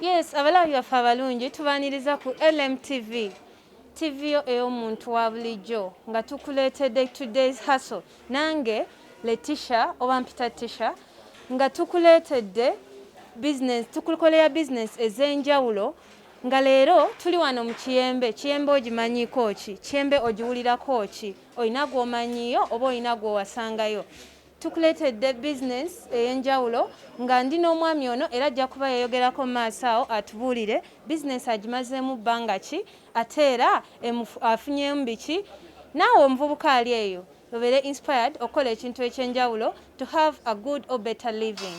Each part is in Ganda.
Yes, abalabi baffe abalungi tubaniriza ku LMTV TV yo ey'omuntu wa bulijjo nga tukuleetedde today's hustle nange Letisha oba mpita Tisha nga tukuleetedde business tukukolera business ez'enjawulo nga leero tuli wano mu kiyembe kiyembe ogimanyiko ki kiyembe ogiwulirako ki olina gw'omanyiyo oba olina gw'owasangayo Tukuleetedde bizinensi ey'enjawulo nga ndi n'omwami ono era ajja kuba yayogerako mu maaso awo atubuulire bizinensi agimazeemu bbanga ki ate era afunyeemu biki naawe omuvubuka ali eyo obeere inspired okukola ekintu eky'enjawulo to have a good or better living.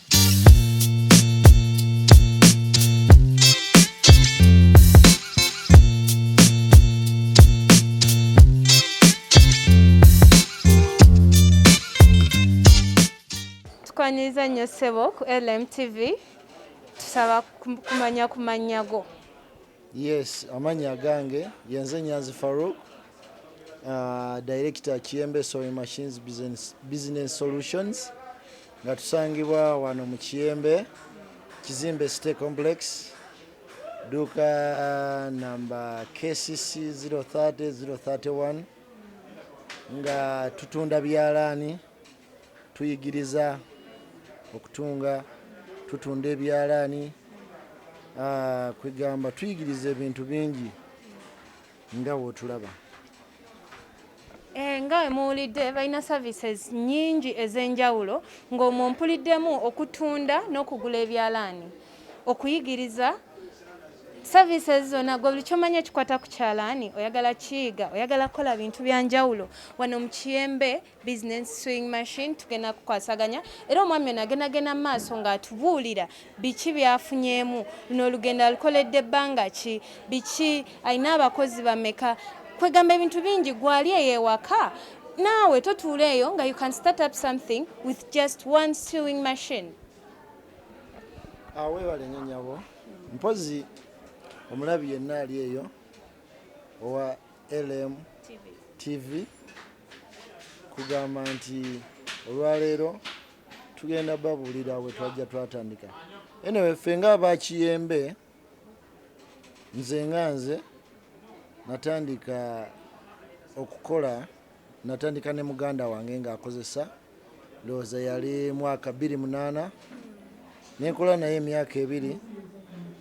Tukwaniriza nnyo ssebo ku LMTV tusaba kumanya kumanya go. Yes, amannya agange yenze Nyanzi Farouk, uh, director Kiyembe Sewing Machines Business, Business Solutions nga tusangibwa wano mu Kiyembe Kizimbe City Complex duuka uh, namba KCC 030 031 nga tutunda byalaani Tuyigiriza okutunga, tutunda ebyalaani, kwegamba tuyigiriza ebintu bingi nga wotulaba. Eh, nga wemuwulidde balina services nyingi ez'enjawulo ng'omwo mpuliddemu okutunda n'okugula ebyalaani okuyigiriza services zona gwe buli kyomanya ekikwata ku kyalaani oyagala kiyiga oyagala kukola bintu byanjawulo wano mu kiyembe bizinensi swing machine tugenda kukwasaganya era omwami ono agenda genda mu maaso ng'atubuulira biki byafunyeemu luno olugendo alukoledde ebbanga ki biki alina abakozi bameka kwegamba ebintu bingi gwali eyo ewaka naawe totuula eyo nga you can start up something with just one sewing machine ah, webale nyo nyabo mpozi omulabi yenna ali eyo owa LM TV kugamba nti olwaleero tugenda babuulira we twajja twatandika anyway ffe nga abakiyembe nze nga nze natandika okukola Natandika ne muganda wange ng'akozesa ndowooza yali mwaka bbiri munaana ne nkola naye emyaka ebiri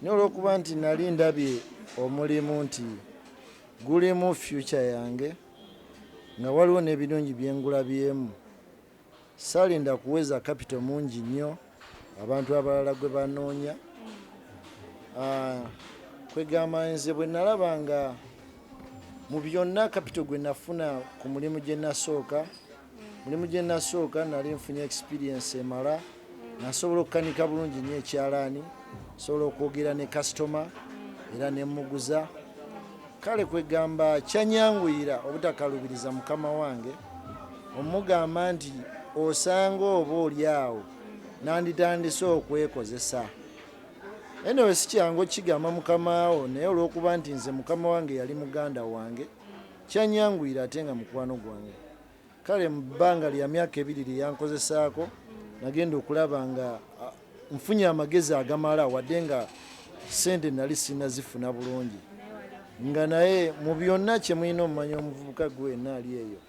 naye olw'okuba nti nali ndabye omulimu nti gulimu fyuca yange nga waliwo n'ebirungi bye ngulabyemu Saalinda kuweza kapito mungi nnyo abantu abalala gwe banoonya. Ah, kwegamba nze bwe nalaba nga mu byonna kapito gwe nafuna ku mulimu gye nasooka mulimu gye nasooka nali nfunye experience emala nasobola okukanika bulungi nyo ekyalaani sobola okwogera ne kasitoma era nemuguza kale kwegamba kyanyanguyira obutakalubiriza mukama wange omugamba nti osanga oba oli awo nanditandise okwekozesa enewe sikyangu okukigamba mukamaawo naye olwokuba nti nze mukama wange yali muganda wange kyanyanguyira ate nga mukwano gwange kale mu bbanga lya myaka ebiri lye yankozesaako nagenda okulaba nga nfunye amagezi agamala wadde nga sente nali sirina zifuna bulungi nga naye mu byonna kye mulina omumanya omuvubuka gwe wenna ali eyo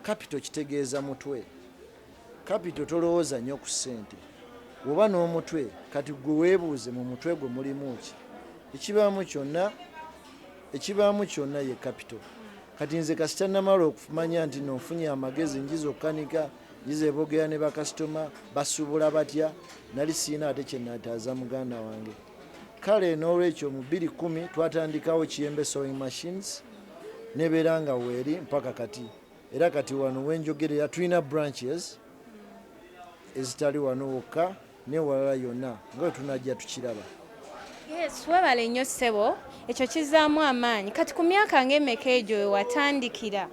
kapito kitegeeza mutwe kapito tolowooza nnyo ku sente oba n'omutwe kati gwe weebuuze mu mutwe gwe mulimu ki ekibaamu kyonna ekibaamu kyonna ye kapito kati nze kasita namala okumanya nti nonfunye amagezi njiza okukanika njiza ebogera ne bakasitoma basubula batya nali siina ate kyenataaza muganda wange kale n'olwekyo mu bbiri kumi twatandikawo kiyembe sewing machines nebeera nga weeri mpaka kati era kati wano wenjogerera tulina branches ezitali wano wokka newalala yona nga wetunajja tukiraba. Yes, webale nnyo ssebo, ekyo kizaamu amaanyi. Kati ku myaka ng'emeka egyo we watandikira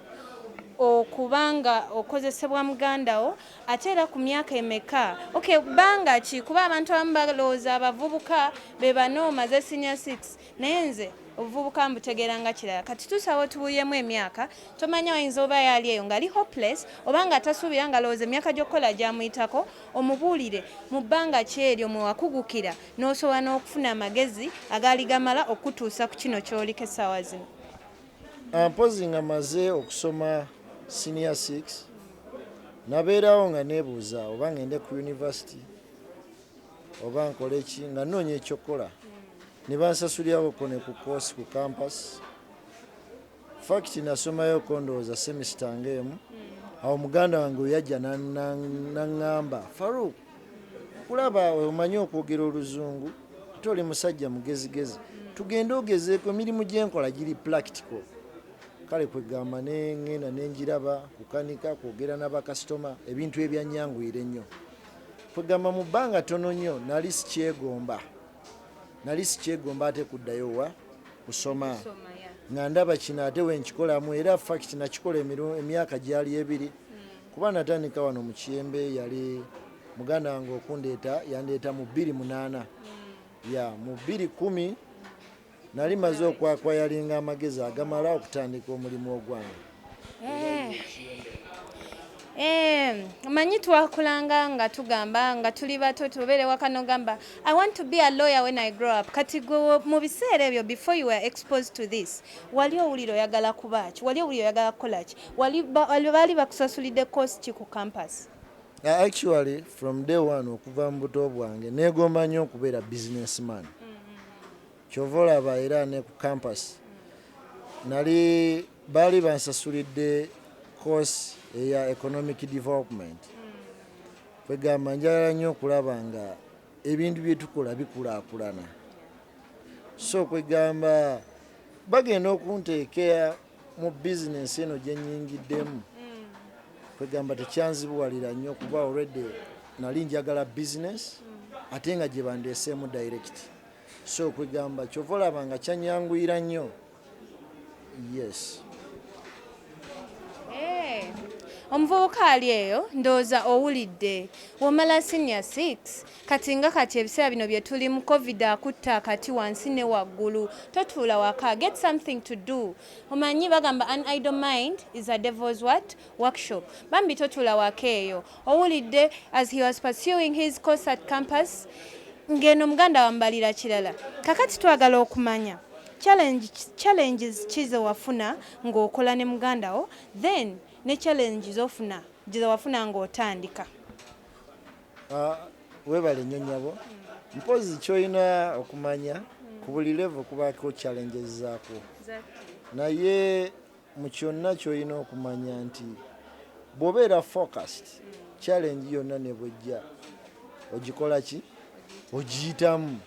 okuba nga okozesebwa muganda wo ate era ku myaka emeka okay bbanga ki kuba abantu abamu balowooza abavubuka be banoomaze senior six naye nze obuvubuka mbutegeera nga kirala kati tusawo tubulyemu emyaka tomanya oyinza oba yaali eyo ngali hopeless oba nga tasuubira nga lowooza emyaka gy'okukola gyamuyitako omubuulire mu bbanga ki eryo mwe wakugukira n'osobola n'okufuna amagezi agaali gamala okukutuusa ku kino ky'oliko essaawa zino ah, mpozi nga maze okusoma senior 6 nabeerawo nga neebuuza oba ngende ku yunivasity oba nkole ki nga nnoonya ekyokukola ne bansasulirako ne ku koosi ku kampasi fakiti nasomayo kondowooza semisita ngaemu awo muganda wange oyajja naŋŋamba faruk kulaba omanyi okwogera oluzungu ate oli musajja mugezigezi tugende ogezeeko emirimu gyenkola giri plactical kale kwegamba nengenda nenjiraba kukanika kwogera nabakasitoma ebintu ebyanyanguyira ennyo Kwegamba mu bbanga ttono nnyo nali sikyegomba, nali sikyegomba ate kuddayo wa kusoma nga ndaba kino ate wenkikolamu era fact nakikola emyaka gyali ebiri hmm. kuba natandika wano mu kiyembe yali muganda wange okundeeta yandeeta mu bbiri munaana hmm. ya mu bbiri kumi Nali maze okwakwayalinga amagezi agamala okutandika omulimu ogwange. Eh. Eh, manyi twakulanga nga tugamba nga tuli bato tubeere waka nogamba i want to be a lawyer when i grow up kati gwe mu biseera ebyo before you were exposed to this wali owulira oyagala kuba ki wali owulira oyagala kukola ki baali bakusasulidde course ki ku campus uh, actually from day one okuva mu buto bwange negomba nnyo okubeera businessman mm-hmm. kyova olaba era ne ku campus nali baali bansasulidde course eya economic development kwegamba njagala nnyo okulaba nga ebintu byetukola bikulakulana so kwegamba bagenda okunteekea mu bizinensi eno gye nnyingiddemu mm. kwegamba tekyanzibuwalira nnyo kuba already nali njagala bizinensi mm. ate nga gye bandeeseemu direct so kwegamba kyova olaba nga kyanyanguyira nnyo yes eh, omuvubuka ali eyo ndowooza owulidde womala senior 6 Kati nga kati ebiseera bino bye tulimu covid akutte akati wansi ne waggulu totuula waka get something to do omanyi bagamba an idle mind is a devil's what workshop bambi totuula waka eyo owulidde as he was pursuing his course at campus ng'eno muganda wambalira kirala kakati twagala okumanya challenges ki ze wafuna ng'okola ne muganda wo then ne challenge zofuna gye zewafuna ng'otandika Ah, webale nnyo nyabo mpozi kyolina okumanya hmm. ku buli levo kubako challenges zaako naye mu kyonna kyolina okumanya nti bwobeera focused hmm. challenge yonna nebwejja ogikola ki ogiyitamu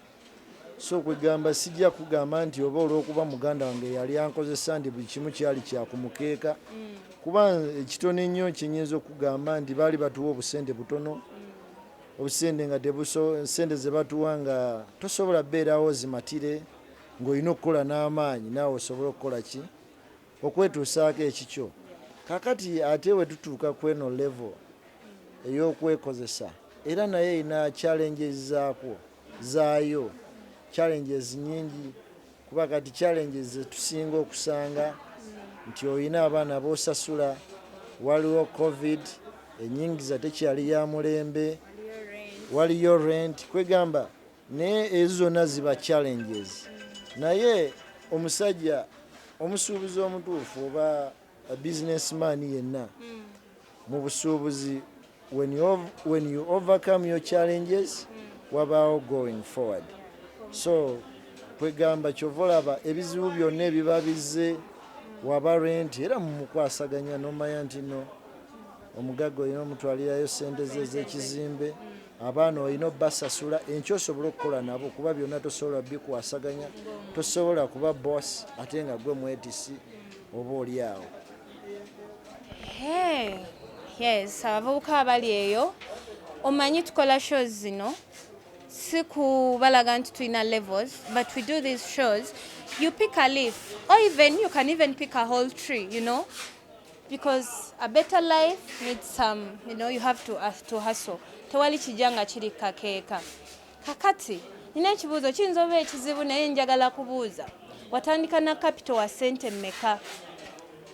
so kwegamba sijja kugamba nti oba olwokuba muganda wange yali ankozesa ndi buli kimu kyali kyakumukeeka mm. kuba ekitono ennyo kyenyinza okugamba nti baali batuwa obusente butono mm. obusente nga sente zebatuwa nga tosobola beerawo zimatire ngaolina okukola n'amaanyi naawe osobole okukola ki okwetuusaako ekikyo kakati ate wetutuuka kweno levo mm. ey'okwekozesa era naye erina challenges zaakwo zaayo challenges nyingi kuba kati challenges zetusinga okusanga nti olina abaana bosasula waliwo covid enyingiza tekyali ya mulembe waliyo rent kwegamba naye ezo zonna ziba challenges naye omusajja omusuubuzi omutuufu oba A business man yenna mm. mu busuubuzi when you, when you overcome your challenges mm. wabaawo going forward so kwegamba kyova olaba ebizibu byonna ebiba bizze waba renti era mumukwasaganya nomanya nti no omugagga olina omutwalirayo sente ze ezekizimbe abaana olina obbasasula enkyo osobole okukola nabo kuba byonna tosobola bikwasaganya tosobola kuba boss ate nga gwe mwetisi oba oli awo yes abavubuka abali eyo omanyi tukola shows zino si kubalaga nti tulina levels but we do these shows you pick a leaf or even you can even pick a whole tree you know because a better life needs some you know you have to, uh, to hustle tewali kijja nga kiri kakeeka kakati nina ekibuuzo kiyinza oba ekizibu naye njagala kubuuza watandika na kapito wa sente mmeka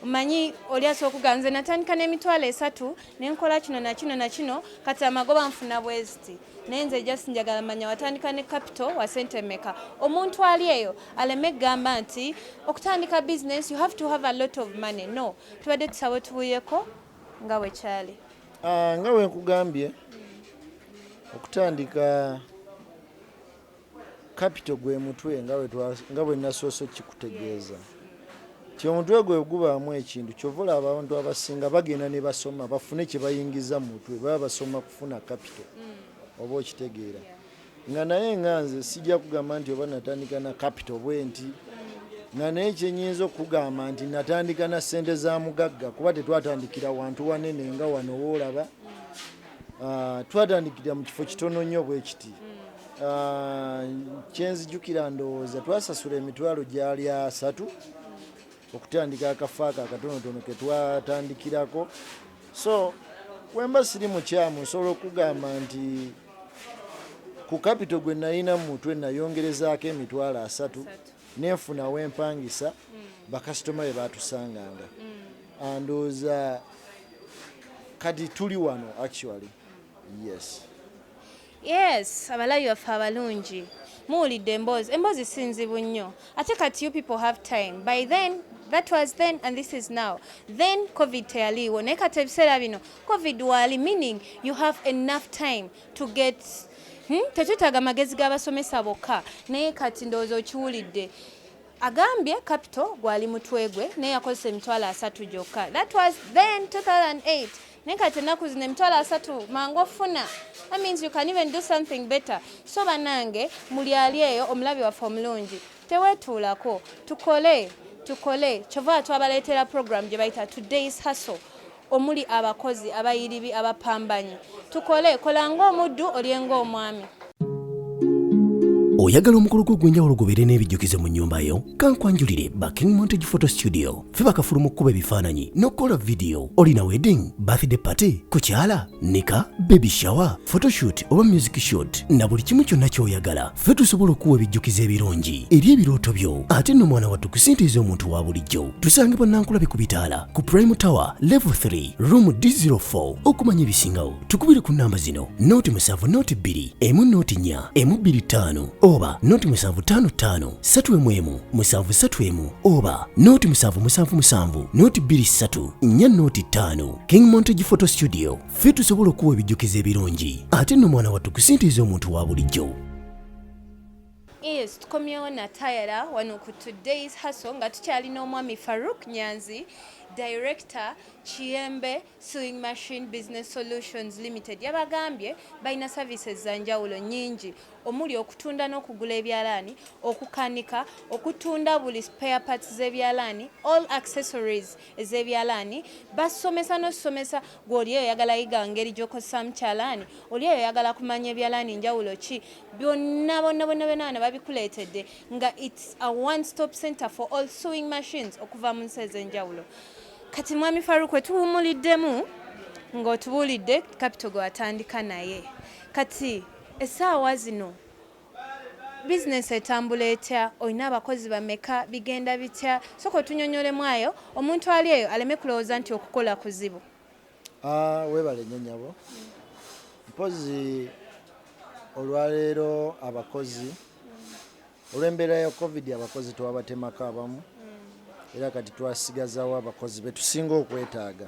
omanyi oli asobola okugaa nze natandika n'emitwalo esatu nenkola kino nakino nakino kati amagoba nfuna bweziti naye nze just njagala manya watandika ne capital wa sente meka omuntu ali eyo aleme gamba nti okutandika business you have to have a lot of money no tubadde tusawe tubuyeko nga wekyali ah, nga wenkugambye okutandika Kapito gwe mutwe nga bwe nasoose okukikutegeeza nti omutwe gwe gubaamu ekintu kyova olaba abantu abasinga bagenda ne basoma bafune kye bayingiza mu mutwe baba basoma kufuna kapito mm. oba okitegeera nga naye nga nze sijja kugamba nti oba natandika na kapito bwe nti nga naye kyenyinza okugamba nti natandika na ssente za mugagga kuba tetwatandikira wantu wanene nga wano woolaba Ah, twatandikira mu kifo kitono nnyo bwe kiti hmm. ah, kyenzijukira ndowooza twasasula emitwalo gyali asatu hmm. okutandika akafo ako akatonotono ke twatandikirako so wemba siri mukyamu nsobola okugamba nti ku kapito gwe nalina mu mutwe nayongerezaako emitwalo asatu nenfunawo empangisa hmm. bakasitoma be batusanganga Ah, ndowooza kati tuli wano actually yes yes abalabi baffe abalungi muwulidde emboozi emboozi sinzibu nnyo ate kati you people have time by then that was then and this is now then covid teyaliiwo naye kati ebiseera bino covid waali meaning you have enough time to get hmm? tetwetaaga magezi g'abasomesa bokka naye kati ndowooza okiwulidde Agambye capital gwali mutwe gwe naye yakozesa emitwalo asatu gyokka that was then 2008 naye kati ennaku zino emitwalo asatu mangu ofuna that means you can even do something better so banange muli ali eyo omulabi waffe omulungi tewetuulako tukole tukole kyova twabaleetera program gye bayita today's hustle Omuli abakozi, abayiribi, abapambanyi. Tukole, kola ng'omuddu, olye ng'omwami. Oyagala omukolo gwo ogw'enjawulo gubeere n'ebijjukizo mu nnyumba yo? Kankwanjulire ba King Montage Photo Studio. Ffe bakafulu mu kukuba ebifaananyi n'okukola vidiyo. Olina wedding, birthday party, kukyala? nika baby shower photoshoot oba music shot na buli kimu kyonna kyoyagala ffe tusobola okuwa ebijjukizo ebirungi eri ebirooto byo ate no mwana wattu kusintiiza omuntu wa bulijjo tusange bannankulabi ku bitaala ku prime tower level 3 room d04 okumanya ebisingawo tukubire ku namba zino noti musanvu noti bbiri emu noti nya emu bbiri ttaano oba noti musanvu ttaano ttaano satu emu emu musanvu satu emu oba noti musanvu musanvu musanvu noti bbiri ssatu nya noti ttaano King Montage Photo Studio ffe tusobola okuwa ebijjukizo ebirungi ate nno mwana wattu kusintiiza omuntu wa bulijjo Yes, tukomyewo na tayara wano ku today's hustle nga tukyalina omwami Farouk Nyanzi director Kiyembe Sewing Machine Business Solutions Limited yabagambye balina services za njawulo nyingi omuli okutunda n'okugula ebyalaani okukanika okutunda buli spare parts z'ebyalaani all accessories ez'ebyalaani basomesa n'osomesa gwe oli eyo oyagala yiga ngeri gy'okozesaamu kyalaani oli eyo oyagala kumanya ebyalaani njawulo ki byonna bonna bonna byonna bana babikuleetedde nga its a one stop center for all sewing machines okuva mu nsi ez'enjawulo kati mwami faruku etuwumuliddemu ng'otubuulidde kapito gwe watandika naye kati essaawa zino Bizinensi etambula etya? Olina abakozi bameka? Bigenda bitya? Sooka otunyonyolemu ayo omuntu ali eyo aleme kulowooza nti okukola kuzibu. Ah, webale nnyo nyabo mpozi olwaleero abakozi olw'embeera ya covid abakozi twabatemako abamu era kati twasigazawo abakozi betusinga okwetaaga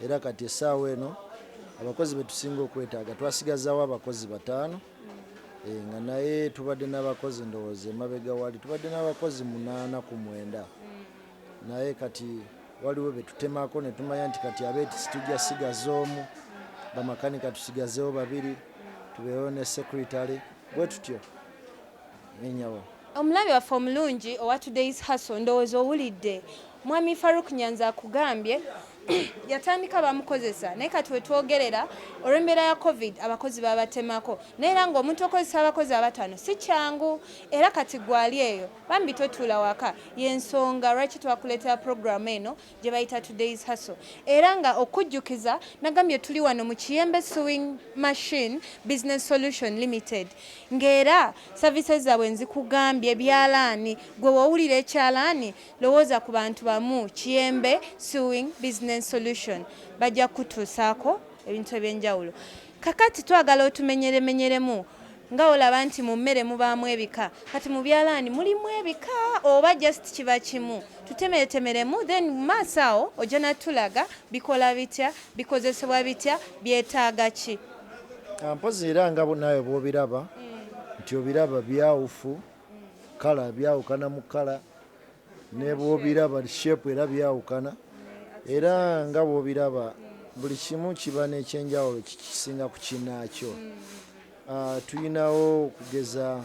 era kati essaawa eno abakozi betusinga okwetaaga twasigazawo abakozi bataano Eh, nga naye tubadde n'abakozi ndowooza emabega wali tubadde n'abakozi munaana ku mwenda mm. naye kati waliwo betutemako netumanya nti kati abeeti situja sigaza omu bamakanika tusigazewo babiri tubeewo ne secretary bwe tutyo Nenyabo. Omulabi waffe omulungi owa Today's Hustle ndowooza owulidde. Mwami Farouk Nyanzi akugambye yatandika bamukozesa naye kati wetwogerera olw'embeera ya covid abakozi babatemako naye era ng'omuntu okozesa abakozi abatano si kyangu era kati gwali eyo bambi totuula waka y'ensonga lwaki twakuleetera pulogulaamu eno gye bayita Today's Hustle era nga okujjukiza nagambye tuli wano mu Kiyembe Sewing Machine Business Solution Limited ng'era services zaabwe nzikugambye byalaani gwe wowulira ekyalaani lowooza ku bantu bamu Kiyembe Sewing Business Solution bajja kukutuusaako ebintu eby'enjawulo. Kakati twagala otumenyeremenyeremu nga olaba nti mu mmere mubaamu ebika kati mu byalaani mulimu ebika oba just kiba kimu tutemeretemeremu then mu maaso awo ojja natulaga bikola bitya bikozesebwa bitya byetaaga ki ah, mpozi era nga naawe bwobiraba mm. nti obiraba byawufu mm. kala byawukana mu kala nebwobiraba buli shape era byawukana era nga bwobiraba buli kimu kiba nekyenjawulo kikisinga ku kinaakyo ah, tulinawo okugeza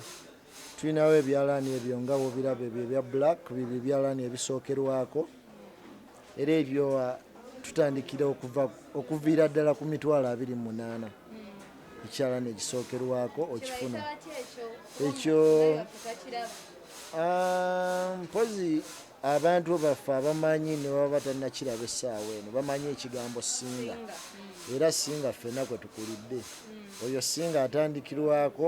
tulinawo ebyalaani ebyo nga bwobiraba ebyo ebya black bibyo ebyalaani ebisookerwako era ebyo uh, tutandikira okuviira ddala ku mitwalo abiri mu munaana hmm. ekyalana ekisookerwako okifuna ekyo ah, mpozi abantu baffe abamanyi nebaba batanakiraba essaawa eno bamanyi ekigambo singa hmm. era singa ffena kwe tukulidde hmm. oyo singa atandikirwako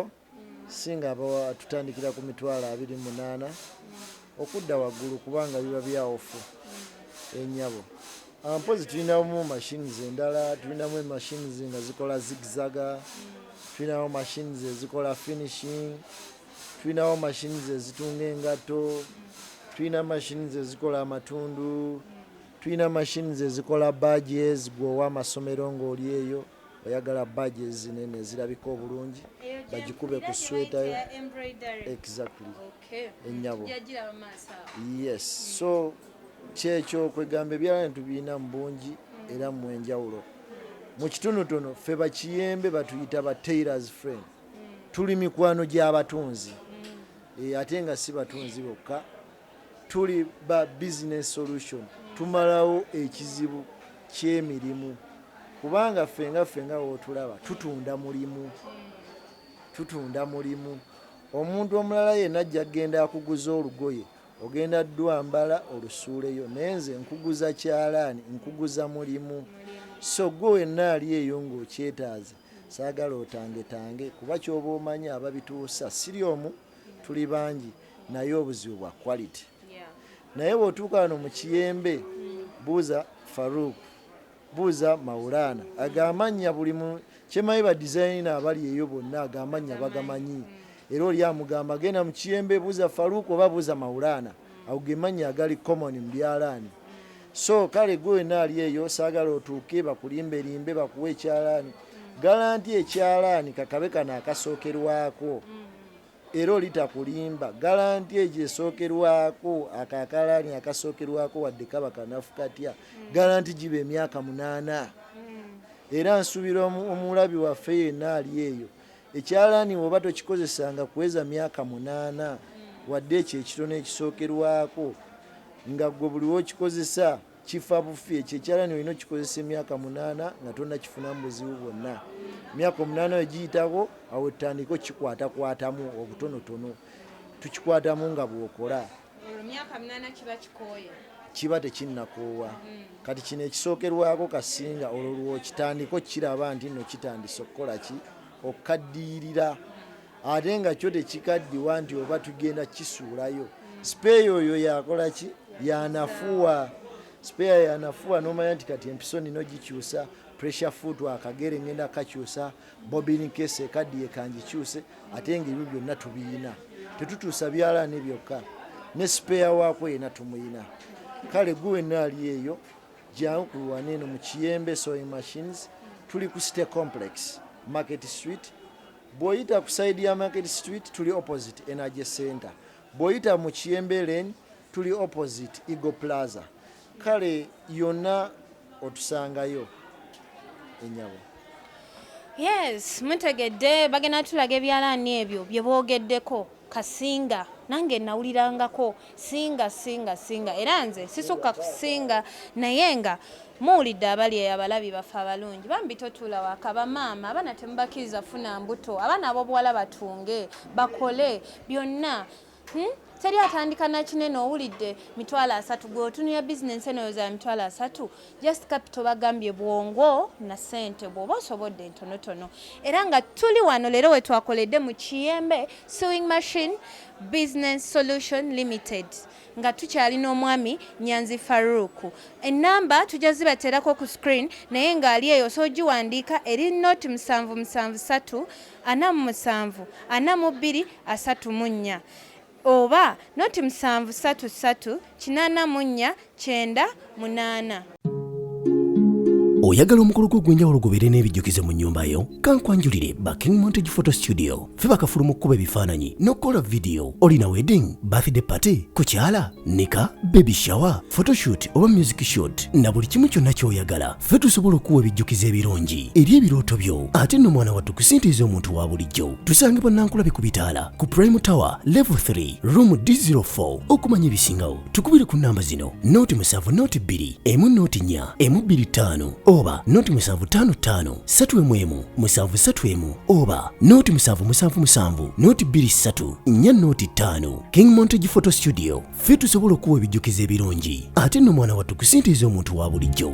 singa abawa tutandikira ku mitwalo abiri munaana okudda waggulu kubanga biba byawufu enyabo eh, ah, mpozi tulinamu machines endala tulinamu emachines nga zikola zigzaga tulinamu machines ezikola finishing tulinawo machines ezitunga engatto tulina machines ezikola amatundu tulina machines ezikola badges gweowa amasomero ngaoli eyo oyagala baji ezinene ezirabika obulungi bagikube ku sweta yo exactly enyabo yes so kyekyo kwegamba ebyala netubirina mu bungi mm. era mu enjawulo mu kitonotono ffe bakiyembe batuyita ba tailors friend mm. tuli mikwano gy'abatunzi mm. eh, ate nga si batunzi bokka Tuli ba Business Solution tumalawo ekizibu ky'emirimu kubanga ffe nga ffe nga w'otulaba tutunda mulimu, tutunda mulimu. Omuntu omulala yenna ajja kugenda akuguze olugoye ogenda dwambala olusuuleyo naye nze nkuguza kyalaani nkuguza mulimu so gwe wenna ali eyo ng'okyetaaze saagala otangetange kuba kyoba omanyi ababituusa siri omu tuli bangi naye obuzibu bwa quality naye bwotuuka wano mu kiyembe hmm. buuza farouk buuza maulana ago amannya buli mu kyemanyi ba designina abali eyo bonna ago amannya bagamanyi hmm. era oli amugamba genda mu kiyembe buuza farouk oba buuza maulana hmm. ago gemannya agali common mu byalaani so kale gwe wena ali eyo saagala otuuke bakulimbelimbe bakuwa ekyalaani galanti ekyalaani kakabe kano akasookerwako era olitakulimba galanti egyo esookerwako ako akalaani akasookerwako wadde kaba kanafu katya galanti giba emyaka munaana era nsuubira omulabi waffe yenna ali eyo ekyalaani woba tokikozesanga kuweza myaka munaana wadde ekyo ekitono ekisookerwako nga gwe buliwo okikozesa kifa bufi ekyo ekyalani olina okikozesa emyaka munaana nga tonakifunamu buzibu bwonna emyaka omunaana oyo giyitako awo etandika okikwatakwatamu obutonotono tukikwatamu nga bwokola kiba tekinnakoowa hmm. kati kino ekisookerwako kasinga olwo lwokitandika okukiraba nti no kitandise okukola ki okukaddiyirira ate nga kyo tekikaddiwa nti oba tugenda kisuulayo sipeeya oyo yakola ki yanafuwa sipeeya yanafuwa nomanya nti kati empiso nino gikyusa pressure foot akagere ngenda kakyusa bobin kese kaddiye kangikyuse ate nga ebyo byonna tubiyina tetutuusa byalaani byokka ne sipeeya waako yena tumuyina kale gwe wenna ali eyo jangu kulwana eno mu kiyembe sewing machines tuli ku city complex market street Bwoyita ku side ya market street tuli opposite energy center, bwoyita mu kiyembe lane tuli opposite eagle plaza, kale yonna otusangayo enyabo. Yes, mutegedde bagenda tulaga ebyalaani ebyo bye boogeddeko. Kasinga nange nawulirangako singa singa singa era nze sisukka ku singa naye nga muwulidde abali eyo abalabi baffe abalungi bambi totuula waka bamaama abaana temubakiriza funa mbuto abaana abobuwala batunge bakole byonna hmm? teri atandika nakinene owulidde mitwalo asatu gweotunira bizinensi enoyo za mitwalo asatu just capital bagambye bwongo na sente bwoba osobodde ntonotono era nga tuli wano leero wetwakoledde mu kiyembe sewing machine business solution limited nga tukyali n'omwami nyanzi faruku enamba tujja zibateerako ku screen naye ng'ali eyo osobola ogiwandiika eri noti musanvu musanvu satu ana mu musanvu ana mu bbiri asatu mu nnya Oba, not musanvu satu ssatu kinaana mu nnya kyenda munaana. oyagala omukolo gwo ogw'enjawulo gubeere n'ebijjukizo mu nnyumba yo kankwanjulire ba king montage photo studio fe bakafulu mu kkuba ebifaananyi n'okukola vidiyo olina wedding birthday party kukyala nika baby shower photoshoot oba music shoot na buli kimu kyonna ky'oyagala ffe tusobola okuwa ebijjukizo ebirungi eri ebirooto byo ate nno mwana wattu ku sente ez'omuntu wa bulijjo tusange bannankulabe ku bitaala ku prime tower level 3 room d04 okumanya ebisingawo tukubire ku nnamba zino nooti musanvu nooti bbiri emu nooti nnya emu bbiri ttaano oba nooti musanvu ttaano ttaano ssatu emu emu musanvu ssatu emu oba nooti musanvu musanvu musanvu nooti bbiri ssatu nnya nooti ttaano king montage photo studio ffe tusobola okuwa ebijjukizo ebirungi ate nno mwana wattu kusintiiza omuntu wa bulijjo